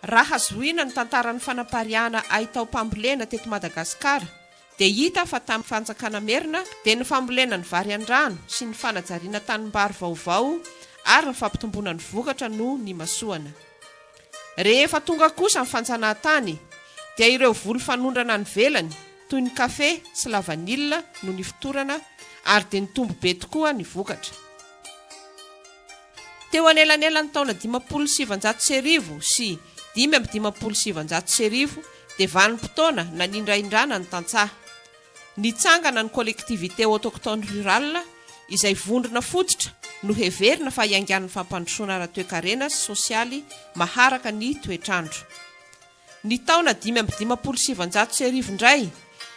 Raha zohina ny tantaran'ny fanapariahana hay taom-pambolena teto Madagasikara dia hita fa tamin'ny fanjakana merina dia ny fambolena ny vary an-drano sy ny fanajariana tanimbary vaovao ary ny fampitomboana ny vokatra no nimasoana. Rehefa tonga kosa ny fanjanahantany dia ireo voly fanondrana any ivelany toy ny kafe sy lavanila no nifotorana ary dia nitombo be tokoa ny vokatra. Teo anelanelan'ny taona dimampolo sy sivinjato sy arivo sy dimy amby dimampolo sy sivinjato sy arivo dia vanim-potoana nanindraindrana ny tantsaha. Nitsangana ny Collectivités Autochtones Rurales izay vondrona fototra noheverina fa hiaingan'ny fampandrosoana ara-toekarena sy sosialy maharaka ny toetr'andro. Ny taona dimy amby dimampolo sy sivinjato sy arivo indray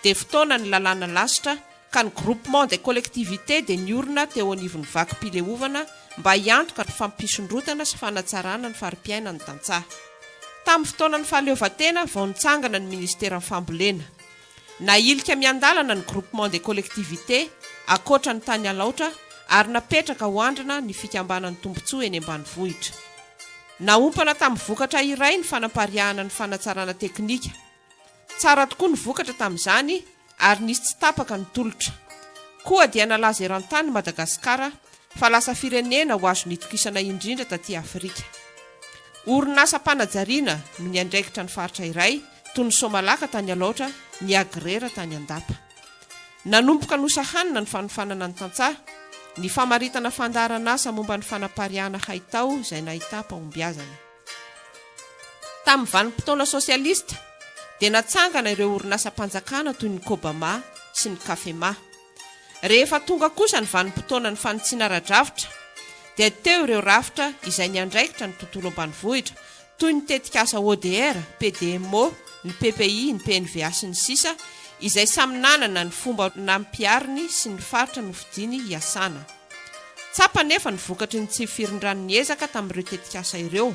dia fotoanan'ny lalàna lasitra ka ny Groupement des collectivités dia niorina teo anivon'ny vakim-pileovana mba hiantoka ny fampisondrotana sy fanatsarana ny fari-piainan'ny tantsaha. Tamin'ny fotoanan'ny fahaleovantena vao nitsangana ny Ministeran'ny Fambolena. Nahilika miandalana ny Groupement des collectivités ankoatra ny tany Alaotra ary napetraka ho andrina ny fikambanan'ny tombontsoa eny ambanivohitra. Naompana tamin'ny vokatra iray ny fanapariahana ny fanatsarana teknika. Tsara tokoa ny vokatra tamin'izany ary nisy tsy tapaka ny tolotra. Koa dia nalaza eran-tany i Madagasikara fa lasa firenena ho azony itokisana indrindra taty Afrika. Orinasam-panajariana no niandraikitra ny faritra iray, toy ny Somalaka tany Alaotra, ny Agrera tany Andapa. Nanomboka nosahanina ny fanofanana ny tantsaha, ny famaritana fandaharan'asa momba ny fanapariahana haitao izay nahitam-pahombiazana. Tamin'ny vanim-potoana sosialista dia natsangana ireo orinasam-panjakana toy ny Cobama sy ny Cafema. Rehefa tonga kosa ny vanim-potoanan'ny fanitsiana ara-drafitra dia teo ireo rafitra izay niandraikitra ny tontolo ambanivohitra toy ny tetikasa ODR, PDMO, ny PPI, ny PNVA sy ny sisa izay samy nanana ny fomba nampihariny sy ny faritra nofidiny hiasana. Tsapa anefa ny vokatry ny tsy firindran'ny ezaka tamin'ireo tetikasa ireo,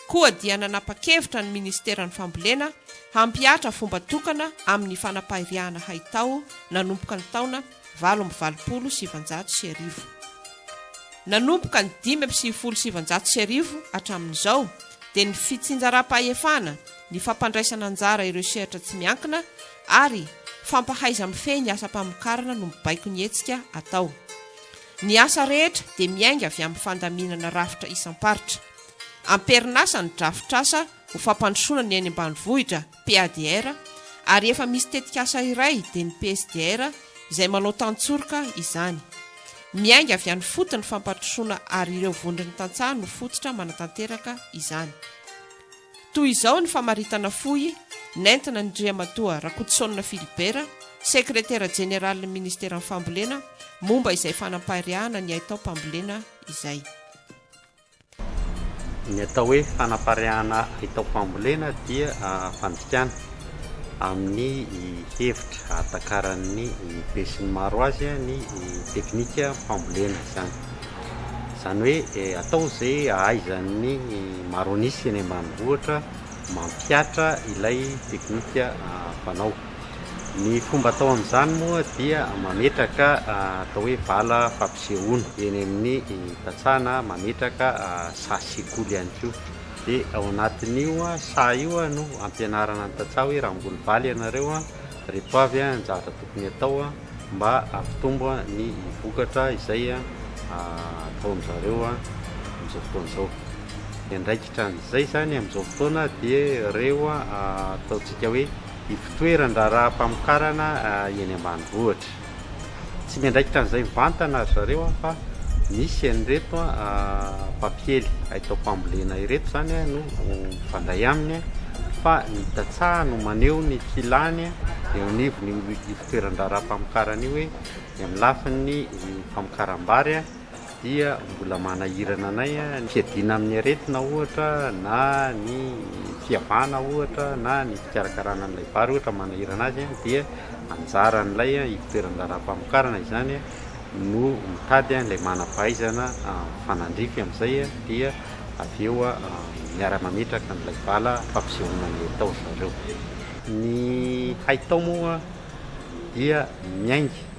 koa dia nanapa-kevitra ny Ministeran'ny Fambolena hampihatra fomba tokana amin'ny fanapahiriahana haitao nanomboka ny taona valo amby valopolo sy sivinjato sy arivo. Nanomboka ny dimy amby sivifolo sy sivinjato sy arivo hatramin'izao dia ny fitsinjaram-pahefana, ny fampandraisana anjara ireo sehatra tsy miankina ary fampahaiza-mifehy ny asam-pamokarana no mibaiko ny hetsika atao. Ny asa rehetra dia miainga avy amin'ny fandaminana rafitra isam-paritra. Amperinasa ny drafitrasa ho fampandrosoana ny eny ambanivohitra PADR, ary efa misy tetikasa iray dia ny PSDR izay manao tantsoroka izany. Miainga avy any foty ny fampandrosoana ary ireo vondron'ny tantsaha no fototra manatanteraka izany. Toy izao ny famaritana fohy nentina ny Driamatoa Rakotosaonina Philibert, Sekretera Jeneralin'ny Ministeran'ny Fambolena momba izay fanampariahana ny haitao-pambolena izay. Ny atao hoe fanapariahana atao fambolena dia fandikana amin'ny hevitra ahatakaran'ny besinimaro azy ny teknika fambolena izany. Izany hoe atao izay ahaizan'ny maro an'isa eny ambanivohitra mampihatra ilay teknika fanao. Ny fomba atao amin'izany moa dia mametraka atao hoe vala fampisehoana eny amin'ny tantsaha na mametraka saha sekoly ihany koa, dia ao anatin'io saha io no ampianarana ny tantsaha hoe raha hamboly vary ianareo a, ireto avy ny zavatra tokony atao a, mba hampitombo ny vokatra izay ataon-drizareo amin'izao fotoana izao. Ny andraikitran'izay izany amin'izao fotoana dia ireo ataontsika hoe. Ivontoeran-draharaha mpamokarana eny ambanivohitra. Tsy miandraikitra an'izay mivantana ry zareo fa misy an'ireto mpampiely haitaom-pambolena ireto izany no mifandray aminy fa ny tantsaha no maneho ny filàny eo anivon'io ivontoeran-draharaha mpamokarana io hoe ny amin'ny lafiny famokaram-bary dia mbola manahirana anay ny fiadiana amin'ny aretina ohatra na ny fiavahana ohatra na ny fikarakarana an'ilay vary ohatra manahirana azy dia anjaran'ilay ivoteran-draharaham-pamokarana izany no mitady ilay manam-pahaizana mifanandrify amin'izay dia avy eo miara-mametraka an'ilay bala fampisehoana ny haitao ry zareo. Ny haitao moa dia miainga.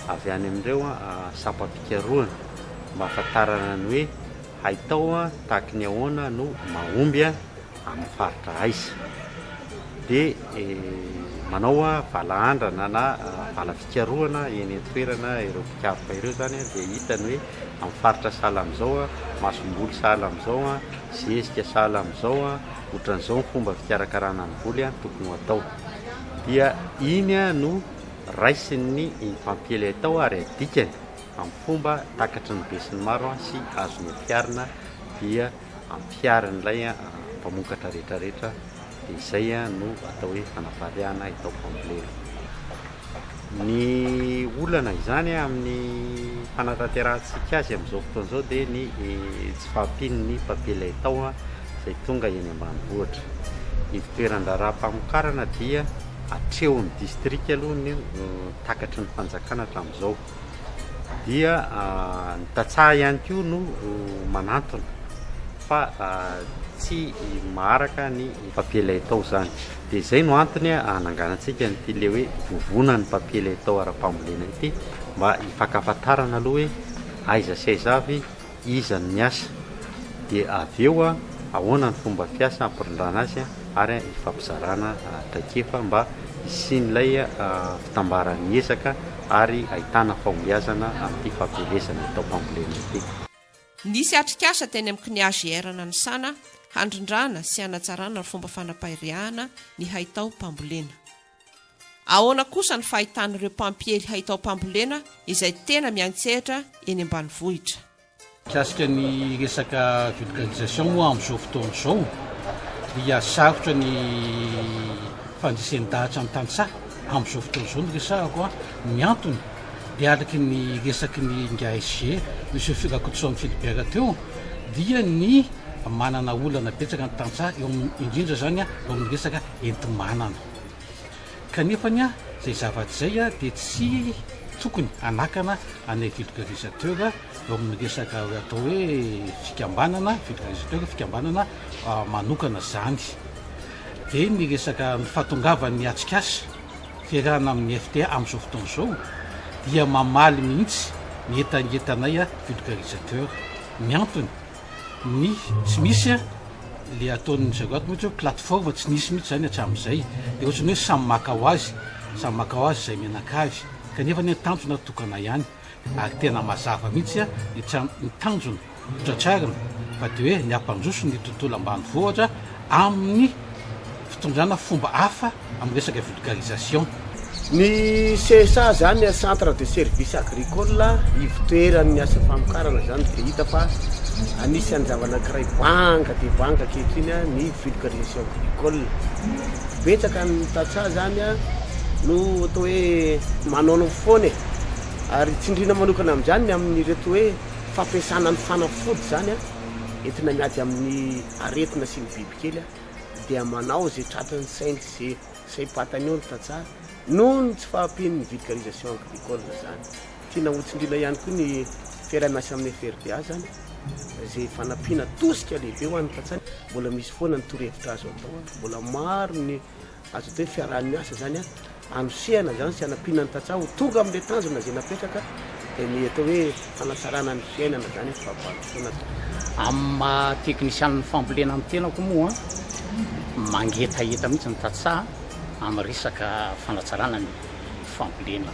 avy any amin'ireo sampam-pikarohana mba hahafantarana ny hoe haitao tahaky ny ahoana no mahomby amin'ny faritra aiza dia manao valahandrana na vala fikarohana eny an-toerana ireo mpikaroka ireo izany dia hita ny hoe amin'ny faritra sahala amin'izao a, masomboly sahala amin'izao a, zezika sahala amin'izao a, ohatran'izao ny fomba fikarakarana ny voly a, tokony ho atao dia iny no Raisin'ny infantiely atao ary adikany amin'ny fomba takatry ny besinimaro sy azony ampiharina dia ampiharin'ilay mpamokatra rehetrarehetra dia izay no atao hoe fanapariahana atao fambolena. Ny olana izany amin'ny fanatanterahantsika azy amin'izao fotoana izao dia ny tsy fahampian'ny mpampiely atao izay tonga eny ambanivohitra. Ny fitoeran-draharaha-pamokarana dia. atrehon'ny distrika aloha ny takatry ny fanjakana hatramin'izao dia ny tantsaha ihany koa no manantona fa tsy maharaka ny papier laitao izany dia izay no antony hananganantsika nyity le hoe vovona ny papier laitao ara-pambolena ity mba hifankafantarana aloha hoe aiza sy aiza avy iza no niasa, dia avy eo ahoana ny fomba fiasa hampirindrana azy ary hifampizarana traikefa mba hisian'ilay fitambaran'ny ezaka ary ahitana fahombiazana amin'ity fampielezana ny taom-pambolena ity. Nisy atrikasa teny amin'ny CNIAGR nanisana handrindrana sy hanatsarana ny fomba fanapariahana ny haitao-pambolena. Ahoana kosa ny fahitan'ireo mpampiely haitaom-pambolena izay tena miantsehatra eny ambanivohitra? Mikasika ny resaka vulgarisation moa amin'izao fotoana izao dia sarotra ny fandresen-dahatra ny tantsaha amin'izao fotoana izao no resahako an! ny antony dia araka ny resaky ny ingahy SG, Monsieur Rakotoson Philibert teo dia ny manana olana betsaka ny tantsaha eo indrindra izany eo amin'ny resaka enti-manana. Kanefa ny ahy, izay zavatra izay dia tsy tokony hanakana anay vulgarisateur eo amin'ny resaka atao hoe fikambanana, vulgarisateur, fikambanana manokana izany. Dia ny resaka ny fahatongavan'ny atrikasa fiarahana amin'ny FTA amin'izao fotoana izao dia mamaly mihitsy ny hetangetanay vulgarisateur. Ny antony, ny tsy misy a le ataon'ny zagoat mihitsy hoe plateforme tsy nisy mihitsy zany hatramin'izay de ohatrany hoe samy maka ho azy samy maka ho azy izay mianakavy kanefa ny tanjona tokana ihany ary tena mazava mihitsy a ny tra- ny tanjona hotratrarina fa de hoe ny hampandroso ny tontolo ambanivohitra amin'ny fitondrana fomba hafa amin'ny resaka vulgarisation. Ny CSA zany a centre de service agricole, ivotoeran'ny asa famokarana zany dia hita fa anisan'ny zava-nankiray banga dia banga ankehitriny a ny vulgarisation agricole. Betsaka ny tantsaha zany a no atao hoe manaonao foana e. Ary tsindrina manokana amin'izany ny amin'ireto hoe fampiasana ny fanafody zany a entina miady amin'ny aretina sy ny bibikely a. dia manao izay tratran'ny sainy sy saim-patany eo ny tantsaha noho ny tsy fahampian'ny vulgarisation agricole izany. Tiana hotsindriana ihany koa ny fiaraha-miasa amin'ny FRDA izany izay fanampiana tosika lehibe ho an'ny tantsaha. Mbola misy foana ny torohevitra azo atao ary mbola maro ny Azo atao hoe fiaraha-miasa izany hanosehana izany sy hanampiana ny tantsaha ho tonga amin'ilay tanjona izay napetraka dia ny atao hoe fanatsarana ny fiainana izany amin'ny fampandrosoana azy. Amin'ny maha teknisianin'ny fambolena ny tenako moa mangetaheta mihitsy ny tantsaha amin'ny resaka fanatsarana ny fambolena.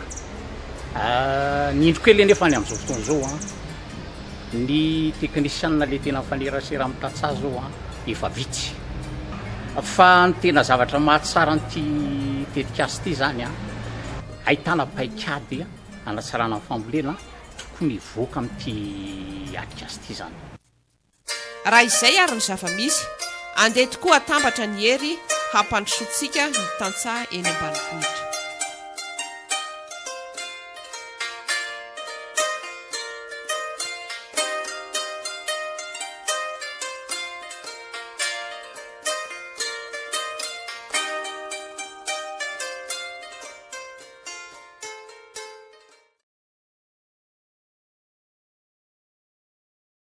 Ny indro kely anefa any amin'izao fotoana izao. Ny teknisianina le tena mifanerasera amin'ny tantsaha zao an efa vitsy. Fa ny tena zavatra mahatsara an'ity tetikasa ity zany an, ahitana paikady hanatsarana ny fambolena tokony hivoaka amin'ity atrikasa ity zany. Raha izay ary ny zava-misy, andeha tokoa hatambatra ny hery hampandrosoantsika ny tantsaha eny ambanivohitra.